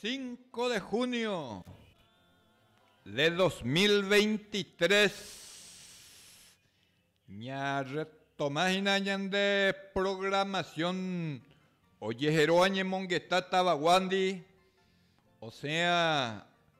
Cinco de junio de dos mil veintitrés ñarretoma hína ñande programación ojehero añemongeta tavaguándi, osẽa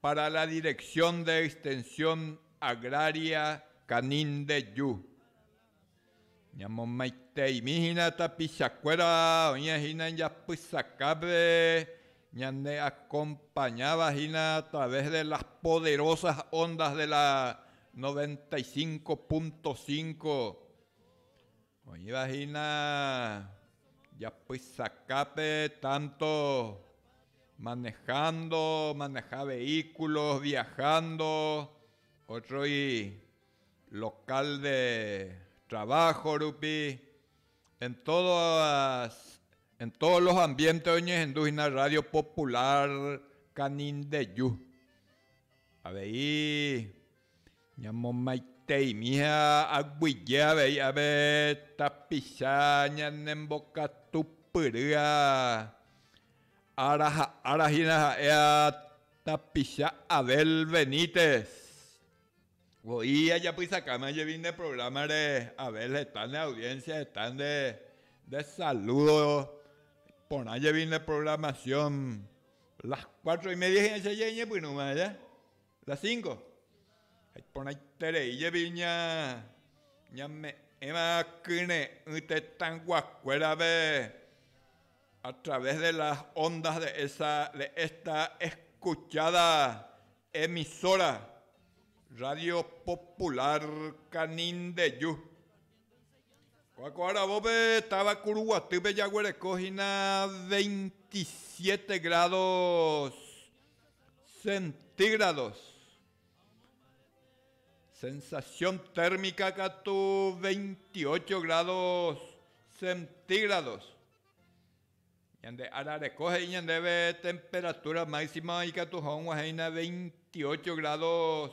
Para la Dirección de Extensión Agraria Canindeju, ñamomaiteimi hína tapichakuéra oĩva hína japysakápe ñande acompañáva hína a través de las poderosas ondas de la 95.5 Oĩva hína japysakápe tanto manejando, maneja vehículos, viajando, otroi local de trabajo rupi, en todas, en todos los ambientes oñehendu hína radio Popular Canindeyú. Avei Ñamomaiteimi ha aguyje avei ave tapicha ñanembokatupyry ára ha ára hína ha'e tapicha Abel Benítez. Voi ajapysakáma jepi nde prográmare Abel heta ne audiencia heta nde saludo porã jepi nde programación. Las cuatro y media hína che jañepyrũma aja. La cinco. Ha iporãiterei jepi ña ñame'ẽva kyre'ỹ tetãyguakuérave a través de las ondas de esa, de esta escuchada emisora, Radio Popular Canindeyu. Ko'ã ko aravópe táva Kuruguatýpe jaguereko hína veintisiete grados centígrados. Sensación térmica katu 28 grados centígrados. Ñande arareko he'i ñandéve temperatura máxima ikatu hag̃uahẽina 28 grados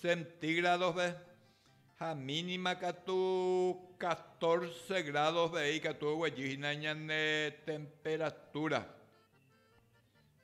centígradospe ha mínima katu 14 gradospe ikatu oguejýhina ñande temperatura.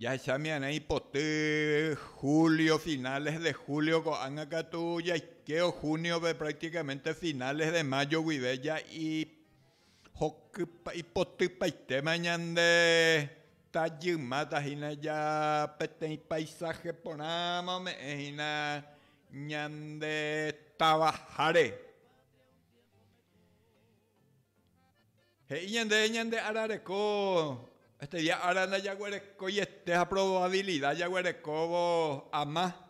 Jahechámi arã ipoty julio, finales de julio ko'ág̃a katu jaikévo junio-pe prácticamente finales de mayo guive ja ihokypa, ipotypaitéma ñande tajymáta hína ja peteĩ paisaje porãma ome'ẽ hína ñande távaháre. He'i ñande ñande ára reko este día ára ndajaguerekoiete ha probabilida jaguerekóvo ama.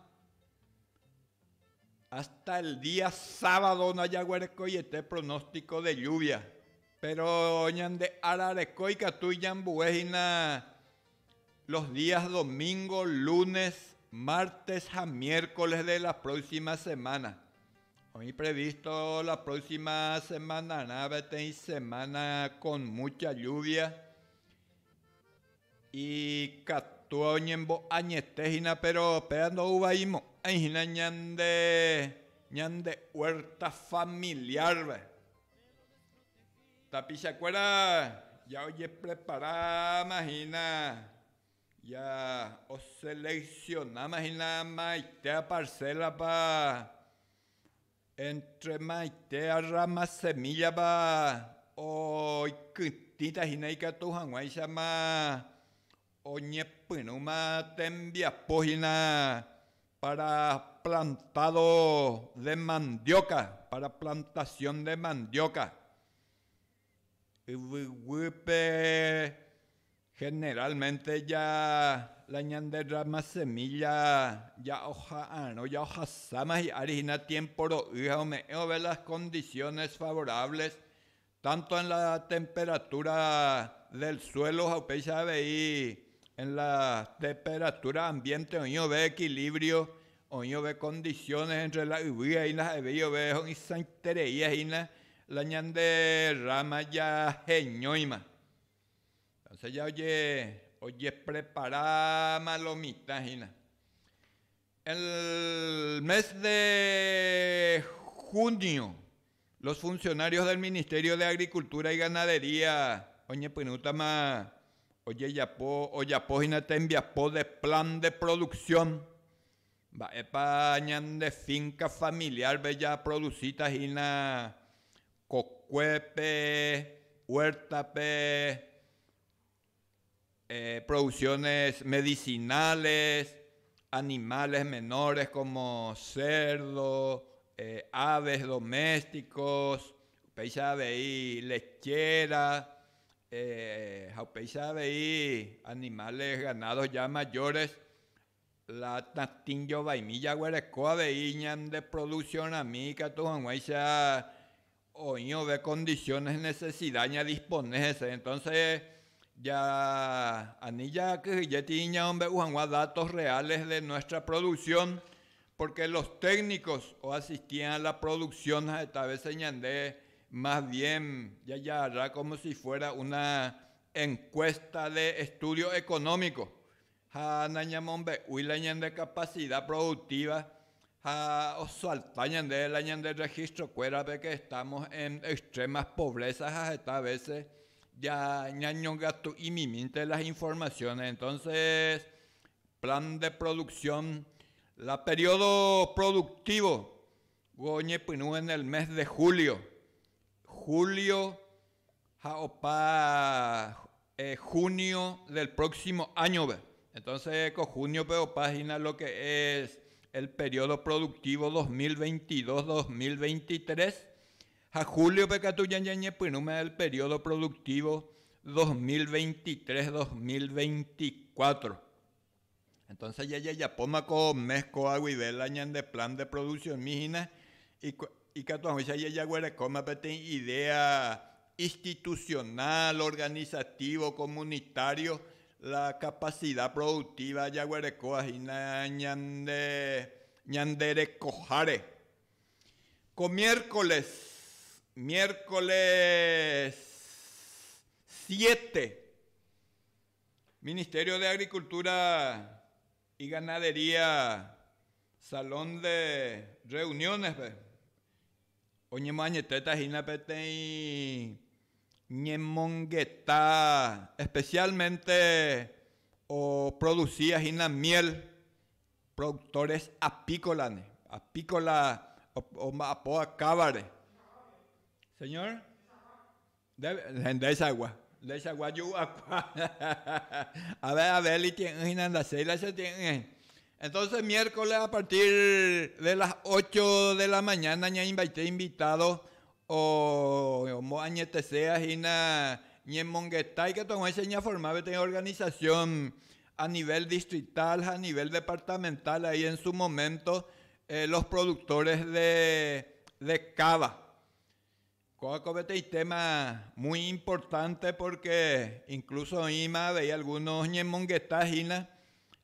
Hasta el día sábado ndajaguerekoiete pronóstico de lluvia, pero ñande ára reko ikatu iñambue hína Los días domingo, lunes, martes ha miércoles de la próxima semana. Oĩ previsto la próxima semanarã peteĩ semana con mucha lluvia ikatu oñembo'añete hína péro péva ndo'uvaimo'ãi hína ñande ñande huerta familiar-pe. Tapicha kuéra ya ojepreparáma hína, ya oseleksionáma hína maite aparséla-pa, éntre maite rrama semílla-pa oikytĩta hína ikatu hag̃uáichama Oñepyrũma tembiapo hína para plantado de mandioka, para plantación de mandioka. Yvyguýpe generalmente ja la ñande rama semilla ja oha'arõ, ja ohasáma hi'ári hína tiempo ro'y ha ome'ẽvove las condiciones favorables Tanto en la temperatura del suelo ha upéicha avei en la temperatura ambiente oĩove equilibrio, oĩove condiciones entre la yvy ahina ha'evéiove ho'ysãiterei ahina la ñande rama jaheñóima. Entonces ya oje, ojepreparáma lo mitã hína. El mes de junio los funcionarios del Ministerio de Agricultura y Ganadería oñepyrũtama ojejapo ojapo hína tembiapo de plan de producción mba'épa ñande finca familiar-pe japroducíta hína kokuépe, huerta-pe, producciones medicinales, animales menores como cerdo, aves domésticos, upéicha avei lechera, ha upéicha avei animales ganados ya mayores La tatĩ jovaimi jaguereko avei ñande produsiõrami ikatu hag̃uáicha oĩ ove condiciones necesida ñadispone hese. Entonce ja ani jakyhyje tĩi ñaombe'u hag̃ua datos reales de nuestra producción, porque los técnicos oasistian a la producción ha'eta veces ñande más bien jajagarra como si fuera una encuesta de estudio económico, ha nañamombe'úi la ñande kapasida produktíva ha osalta ñande la ñande rregistrokuérape ke estámos en extrema povrésa ha heta vése ñañongatu'imimínte las informasiónes. Entónses plan de produksión, la periódo produktívo oñepyrũ en el mes de julio, julio ha opa junio del próximo año-pe, entonces ko junio-pe opa hína lo que es el periodo productivo dos mil veintidós, dos mil veintitrés, ha julio-pe katu ya ñañepyrũma el periodo productivo dos mil veintitrés, dos mil veinticuatro. Entonces jajajapóma ko mes kóva guive la ñande plan de produccionmi hína ikatu hag̃uáicha jajaguerekóma peteĩ idea institucional, organizativo, comunitario, la capacidad productiva jaguerekóva hína ñande ñande rekoháre. Ko miércoles, miércoles siete Ministerio de Agricultura y Ganadería Salón de Reuniones-pe oñemoañetéta hína peteĩ ñemongeta especialmente oproducía hína miel productores apícola-ni, apícola omba'apo akávare. Señor? Hendaichagua, hendaichagua ju'uakua. Ave Abeli tie'ỹ hína henda Sheila che tie'ỹ. Entonce miércoles a partir de las ocho de la mañana ñaimbaite invitado omoañetesea hína ñemongetái katu ag̃uáicha ñaforma peteĩ organización a nivel distrital ha a nivel departamental ahí en su momento los productores de cava. Kóva ko peteĩ téma muy importante pórke inkluso oĩma avei algúno oñemongeta hína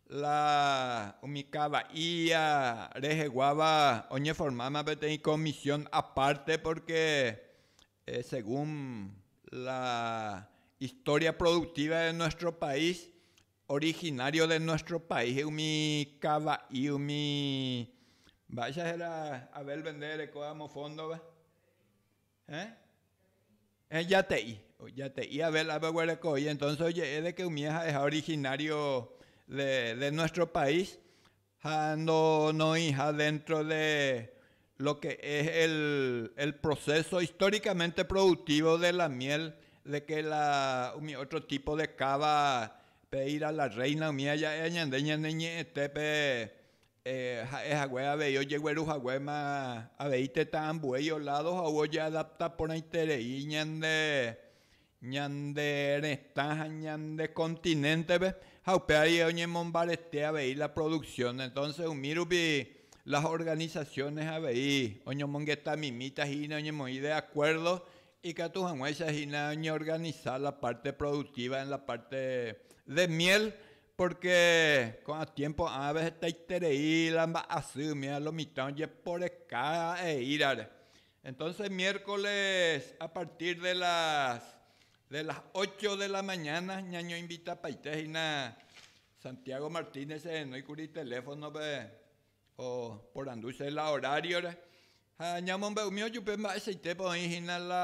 la umi káva ía reheguáva oñeformáma peteĩ komisión apárte pórke según la istória produktíva de nuestro país Originario de nuestro país umi kava'i umi mba'éicha héra Abel vende erekóva amo fondova eh eh jate'i jate'i Abel ape oguereko voi entonce oje'e de que umie ha'eha originario de de nuestro país Ha no noĩha dentro de lo que es el el proceso históricamente productivo de la miel de que la umi otro tipo de cava pe ir a la reina umi aja'e ñande ñane ñe'ẽtépe ha'e hague avei ojegueru haguéma avei tetã ambue iolado ha ou ojeadapta porãiterei ñande ñande retã ha ñande continente-pe ha upévare oñemombarete avei la producción, entonces umi rupi las organizaciones avei oñomongetamimíta hína oñemoĩ de acuerdo ikatu hag̃uáicha hína oñeorganiza la parte productiva en la parte de miel, porque ko'ã tiempo ãve hetaiterei la mba'asy umi a lo mitã ojeporeka eírare, Entonces miércoles a partir de las de las ocho de la mañana ñañoinvitapaite hína Santiago Martínez ehenói kuri teléfonope oporandu che la horario-re ha ñamombe'umi ojupe mba'eichaitépa oĩ hína la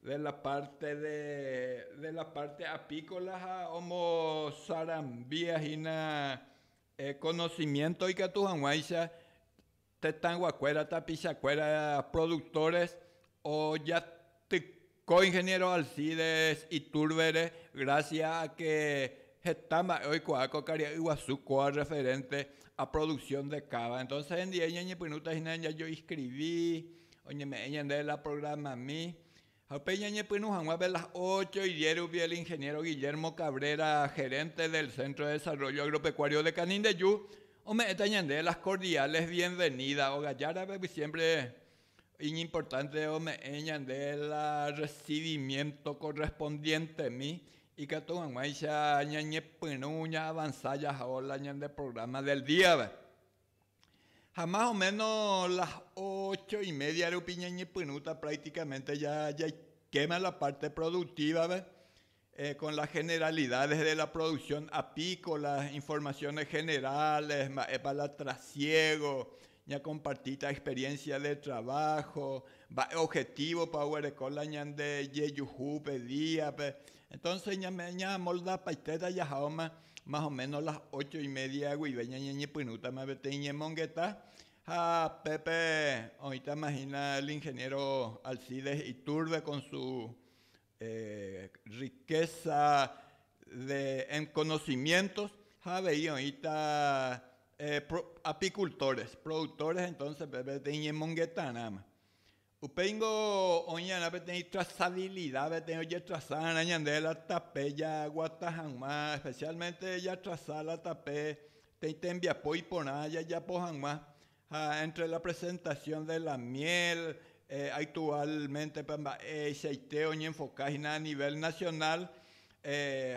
De la parte de de la parte apícola ha omosarambia hína conocimiento ikatu hag̃uáicha tetãguakuéra, tapichakuéra productores ojatyko Ingeniero Alcides Iturbere gracias a que heta mba'e oikuaa ko karia'y guasu kóa referente a producción de cava. Entonces hendive ñañepyrũta hína jajoinscrivi Oñeme'ẽ ñande la programami ha upéi ñañepyrũ hag̃ua de las ocho y diez rupi el ingeniero Guillermo Cabrera, gerente del Centro de Desarrollo Agropecuario de Canindeyu, ome'ẽta ñande las cordiales bienvenidas. Óga Jára pegui siempre iñimportante ome'ẽ ñande la recibimiento correspondientemi ikatu hag̃uáicha ñañepyrũ ñaavanza jahao la ñande programa del díape. Ha más o méno las ócho y média rupi ñañepyrũta prácticamente ja jaikéma la parte productiva-pe, con las generalidades de la producción apícola, informaciones generales, mba'épa la trasiego, ñakompartíta experiencia de trabajo, mba'e objetivo-pa oguereko la ñande jejuhúpe día-pe. Entonces ñamoldapaitéta jahaóma Más o méno las ócho y média guive ñañeñepyrũtama peteĩ ñemongeta, ha pépe oĩtama hína el ingeniéro Alcides Iturbe con su riqueza de conocimientos, ha avei oĩta apicultores, productores entonces peteĩ ñemongetarãma. Upéi ningo oĩ'arã peteĩ trasavilida, peteĩ ojetrasa'arã ñande la tape jaguata hag̃ua, espesiálmente jatrasa la tape peteĩ tembiapo iporã jajapo hag̃ua, ha éntre la presentasión de la miel, aktuálmentepa mba'eichaite oñenfokáhina a nivel nasionál,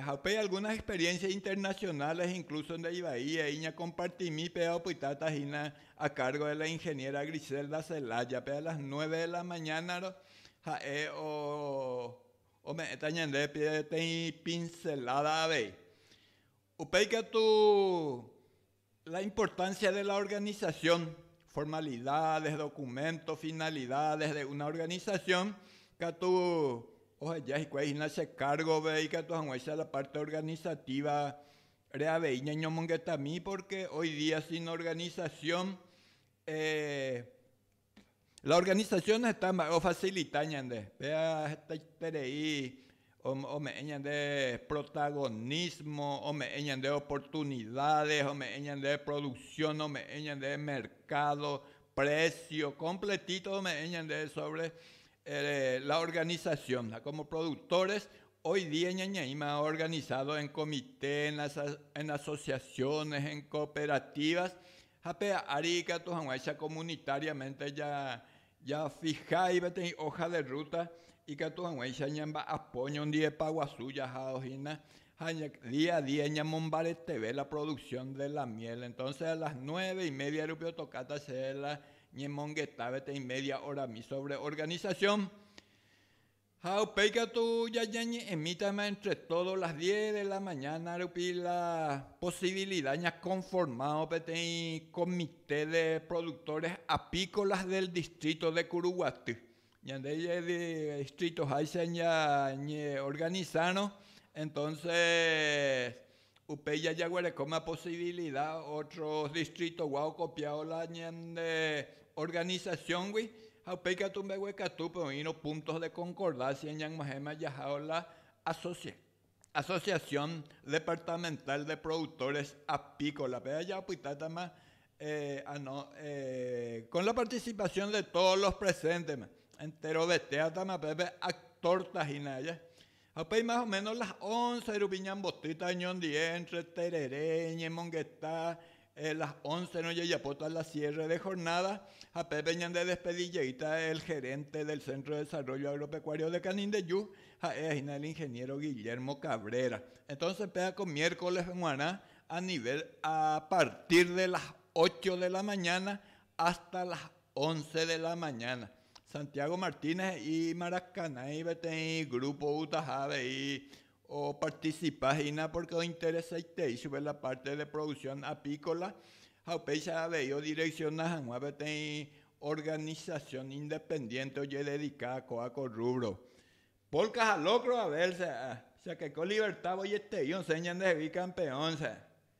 Ha upéi algunas experiencias internacionales incluso nde ivai he'i ñakompartimi péva opytáta hína a cargo de la ingeniera Griselda Celaya péva a las nueve de la mañana-ro ha'e ome'ẽta ñandéve peteĩ pincelada avei. Upéi katu La importancia de la organización, formalidades, documentos, finalidades de una organización katu oheja hikuái hína che cargo-pe ikatu hag̃uáicha la parte organizativa-pe avei ñañomongetami, porque hoy día sin organización, eh, La organización heta mba'e ofasilita ñande, péva hetaiterei ome'ẽ ñande protagonismo, ome'ẽ ñande oportunidades, ome'ẽ ñande producción, ome'ẽ ñande mercado, precio, completito ome'ẽ ñande sobre la organización. Ha como productores hoy día ñañeĩma organizado en comités, en asociaciones, en cooperativas, Ha pe ári ikatu hag̃uáicha comunitariamente jafihái peteĩ hoja de ruta, ikatu hag̃uáicha ñamba'apo ñondiepa guasu jahádo hína, ha día a día ñamombareteve la producción de la miel. Entonces a las nueve y media rupi otokáta che la ñemongeta peteĩ media horami sobre organización. Ha upéi katu jañañe'ẽmítama entre todos las diez de la mañana rupi la posibilidad ñakonformao peteĩ comité de productores apícolas del distrito de Kuruguaty. Ñande distritoháicha ñañeorganisárõ, entonces Upéi jajaguerekóma posibilida ótro distritogua okopiávo la ñande organisasióngui, ha upéi katu mbeguekatúpe oĩrõ púntos de konkordásia ñag̃uahẽma jahávo la asosia, Asociación Departamental de Productores Apícolas-pe. Aja opytátama ano con la participación de todos los presentes-ma. Enterovetéatama pépe actor-ta hína aja. Ha upéi más o ménos las ónce rupi ñambotýta oñondive éntre terere ñemongeta, el las óncerõ jajapóta la siérre de jornáda, ha pépe ñandedespedi jeýta el gerénte del Centro de Desarrollo Agropecuario de Canindeju, ha'e hína el ingeniéro Guillermo Cabrera. Entónse péva ko miércoles g̃uarã a nivel a partir de las ocho de la mañana hasta las Once de la mañana. Santiago Martínez he'i Maracaná-i peteĩ grupo oútaha avei oparticipa hína pórke ointeresaitei chupe la párte de producción apícola ha upéicha avei odireksiona hag̃ua peteĩ organisasión independiénte ojededika ko'ã ko rrúbro. Polka ha lókro, Abel, che akaiko livertávo jete'i osẽ ñandehegui kampeón, che.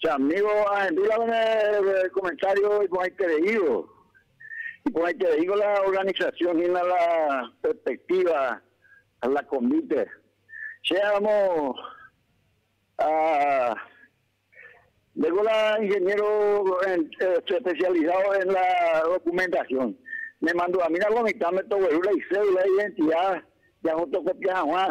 Che amígo ahembíva umi komentário iporãitereívo. Iporãitereíngo la organisasión hína la perspektíva ha la konvíte. Che amo ha ndéko la inheniéro espesialisádo en la dokumentasión. Nemandu'amína lo mitãme togueru la isédula, identida, jafotokopia hag̃ua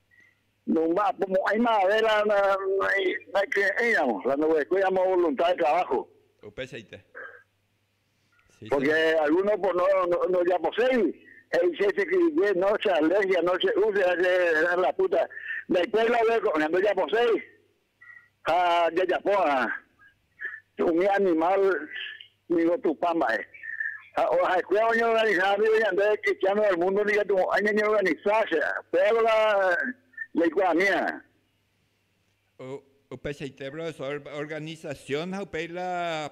Nomba'apomo'ãima avei la naikre'ỹiramo, la ndoguerekói amo volunta de trabajo. Upeichaite. Porque alguno ndojaposéi, he'i che cheky'ye, no, che alergia, no, che úlcera, che la puta, ndaikuéri la oguereko'ỹva, ndojaposéi. ha jajapo va'erã umi animál ningo Tupã mba'e, ha ha'ekuéra oñeorganiza ndive ñande kristiáno del múndo ndikatumo'ãi ñañeorganisa, che Pédora jaikuaamíva. Upeichaite profesór organisasión ha upéi la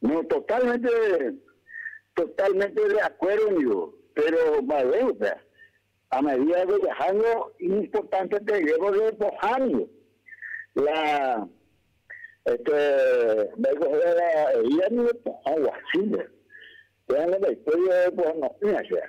No, totalmente, totalmente de acuerdo ndivo, pero mba'eve upéva, a medida que jahángo iñimportante tegue porque pohã ningo la este mba'éiko héra la herida ningo pohã guasúnte, péva ndaikói oreporango'ỹva chéva.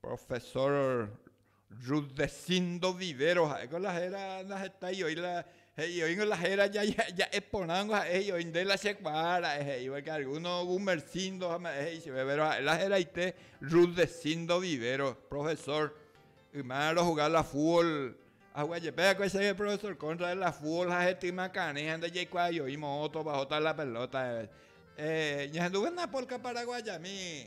Profesor Rudecindo Vivero ha'éko la héra naheta ioi la he'i oíngo la héra ja'e porãngo ha'e he'i oĩ nde la chekuaa ra'e he'i porque alguno Gumercindo ha mba'e he'i chéve péro ha'e la heraite Rudecindo Vivero profesor yma rohuga la fútbol ahua jepe akói chéve profesor contra de la fútbol ha hetyma karẽ ha nde jaikuaa ioi moõ otovahóta la pelota ñahendúvo napolka paraguayami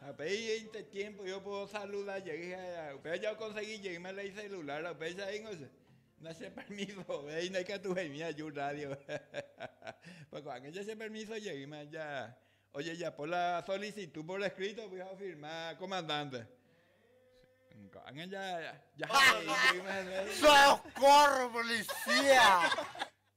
Ha upéinte tiémpo oiko opa osaluda jey ha upéva jaokonsegi jeýma la iselulárva. Upéicha he'íngo che, nachepermisovéi ndaikatu he'imi aju rrádio. Pórke ko'ág̃a jachepermiso jeýma ja ojejapo la solisitu por eskrítope ha ofirma komandánte. Ko'ág̃a ja jahe'i jeýma hese. Sokorro polisía!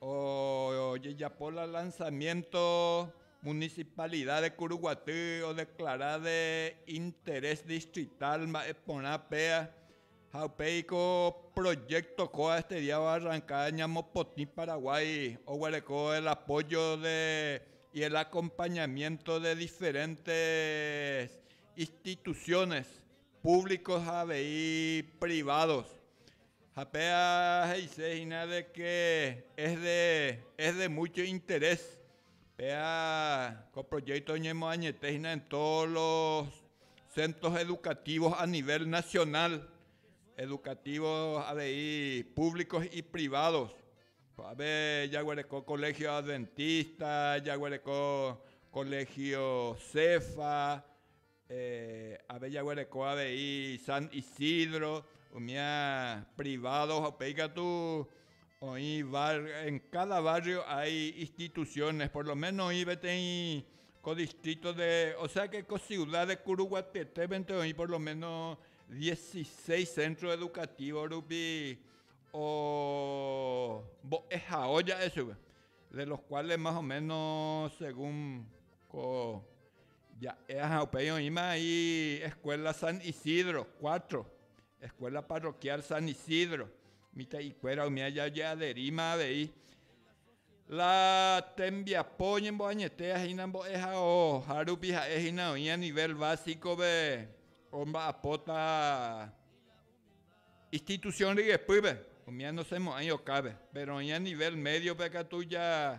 Ojejapo la lanzamiento Municipalidad de Curuguaty odeclara de interés distrital mba'e porã péva ha upéiko proyecto kóva este día oarranca ñamopotĩ Paraguay oguereko el apoyo de y el acompañamiento de diferentes instituciones públicos ha avei privados Ha péa he'ise hína de ke es de, es de múcho interés. Péa ko proyékto oñemoañete hína en tódos los centros educativos a nivel nacional, educativos avei públicos y privados. Ko'ápe jaguereko Colegio Adventista, jaguereko Colegio Cefa, Ave jaguereko avei San Isidro, umía privado ha upéi katu oĩ barrio, en cada barrio hay instituciones, por lo menos oĩ peteĩ ko distrito de, o sea que ko ciudad de Curuguatetépe-nte oĩ por lo menos dieciseis centro educativo rupi ombo'ehao ja'e chupe, de los cuales más o menos según ko Ja'e aja upéi oĩma aĩ Escuela San Isidro cuatro, Escuela Parroquial San Isidro, mitã'ikuéra umi aja oje'aderíma avei la tembiapo oñemboañete ahína mbo'ehao, ha rupi ha'e hína oĩ a nivel básico-pe omba'apóta institución ryepýpe, umi anosemo'ãi okápe, péro oĩ a nivel medio-pe katu ja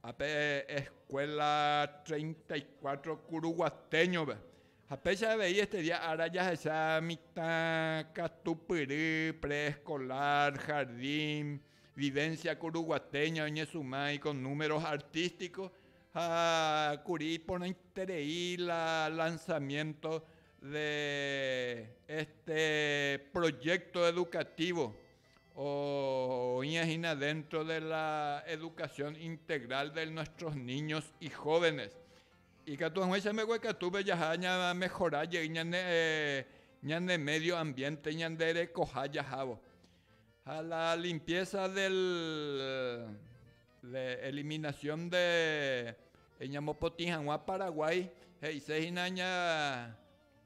Ha pe Escuela Treinta y Cuatro Curuguateño-pe, ha péicha avei este día ára jahecha mitã katupyry preescolar, jardín, vivencia curuguateña oñesuma iko números artístico ha kuri iporãiterei la lanzamiento de este proyecto educativo Oĩva hína déntro de la edukasión integral de nuestros niños y jóvenes. Ikatu hag̃uáicha mbegue katúpe jaha ñamehora jey ñane médio ambiénte ñanderekoha jahávo. Ha la limpieza del, de eliminación de ñamopotĩ hag̃ua Paraguái he'ise hína ña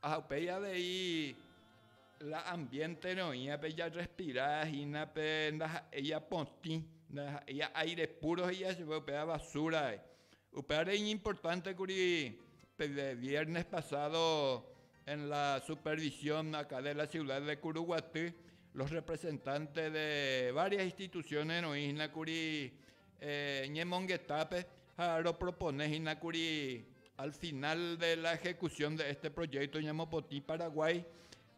Ha upéi avei la ambiénte roĩva pe jarrespira hína pe ndaha'éi apotĩ, ndaha'éi aire púro he'íva chupe, upéva vasúra vai. Upévare iñimportánte kuri pe viérnes pasádo en la supervisión akã de la siuda de Kuruguaty, los representantes de várias instituciones roĩ hína kuri, ñemongetápe ha ropropone hína kuri al final de la ejecución de este proyecto ñamopotĩ Paraguái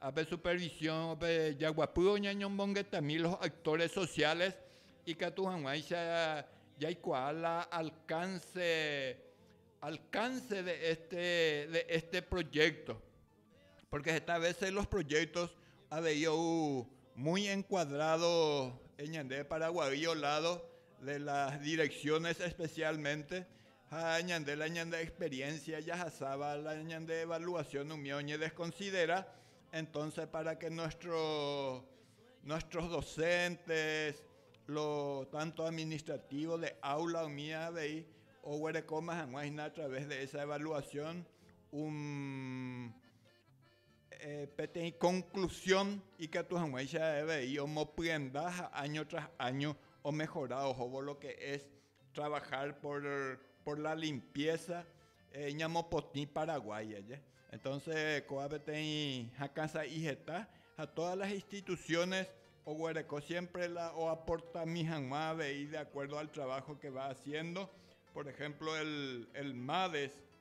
ape supervision-pe jaguapývo ñañomongetami los actores sociales ikatu hag̃uáicha jaikuaa la alcance de este proyecto. Pórke heta vése los projéktos avei ou muy enkuadrádo ñande Paraguaýo oládo de las direksiónes espesiálmente, ha ñande la ñande experiencia jahasáva la ñande evaluasión umi oñedeskonsidera, entonces pára ke nuestro, nuestros docentes, lo tánto administrativo de aula umi avei oguerekóma hag̃ua hína a través de esa evaluasión Un eh, peteĩ conclusión ikatu hag̃uáicha avei omopyenda ha año tras año omehora ohóvo lo que es trabajar por, por la limpieza eh, ñamopotĩ Paraguay aja. Entonces kóva peteĩ hakãsa'i heta ha todas las instituciones oguereko siempre la oaportami hag̃ua avei de acuerdo al trabajo que va haciendo, por ejemplo el, el MADES,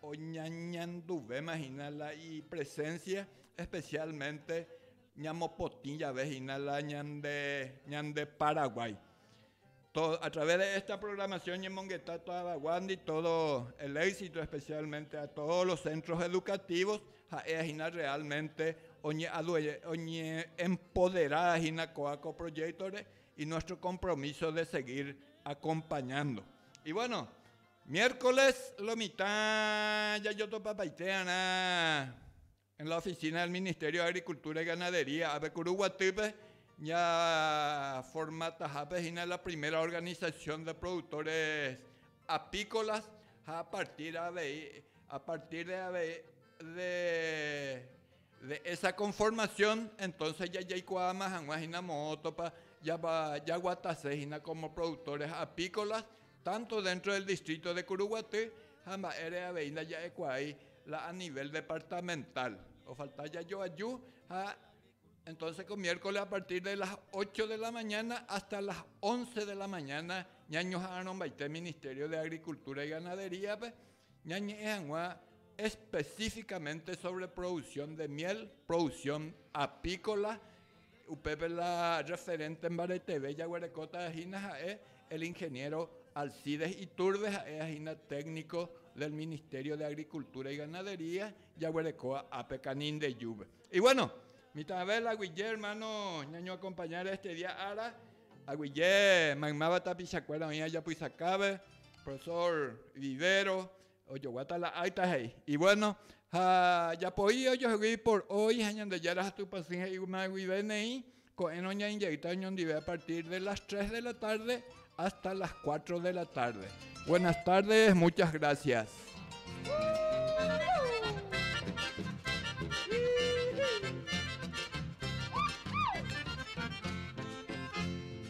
Oñañanduvéma hína la ipresénsia, espesiálmente ñamopotĩ jave hína la ñande Paraguái. Através de esta programación ñemongeta tavaguándi todo el éxito, especialmente a todos los centros educativos, ha'éva hína realmente oñe'empodera hína kóva ko proyecto-re y nuestro compromiso de seguir acompañando. Y bueno, Miércoles lo mitã jajotopapaitéarã en la oficina del Ministerio de Agricultura y Ganadería ápe Kuru guatýpe ñaformatahápe hína la primera organización de productores apícolas ha a partir avei, a partir de avei de esa conformación entonces ya jaikuaama hag̃ua hína moõtopa jaguatase hína como productores apícolas tanto dentro del distrito de Curuguaty ha mba'ére avei ndaja'ekuaái la a nivel departamental, ofalta jajoaju ha entonce ko miércoles a partir de las ocho de la mañana hasta las once de la mañana ñañoha'arõmbaite Ministerio de Agricultura y Ganadería-pe ñañe'ẽ hag̃ua específicamente sobre producción de miel, producción apícola, Upépe la referente mbareteve jaguerekóta hína ha'e el ingeniero Alcides Iturbe ha'éva hína técnico del Ministerio de Agricultura y Ganadería jaguerekóva ápe Canindeyúpe. Y bueno, mitãve la guije hermano ñañoakompaña de este día ára, aguije maymáva tapichakuéra oĩva japysakápe, profesor Vivero, Ojoguáta la áita he'i, Ivuéno, ha japoi ojohegui por hoy ha Ñandejára ha Tupã Sy he'íguma guive neĩ, ko'ẽrõ ñainjaýta oñondive a partir de las tres de la tarde hasta las cuatro de la tarde. Buenas tardes, muchas gracias.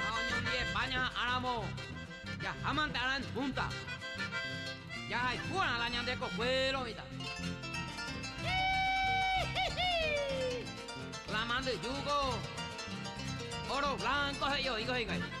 Ha oñondive España ha'ãramo, jahámante arã en punta, jahayhúrã la ñande kokuéro mitã. Híhíhíhíhíh! La mandyjúko óro blanco he'i oĩko hikuái. Híhíhíhíhíh!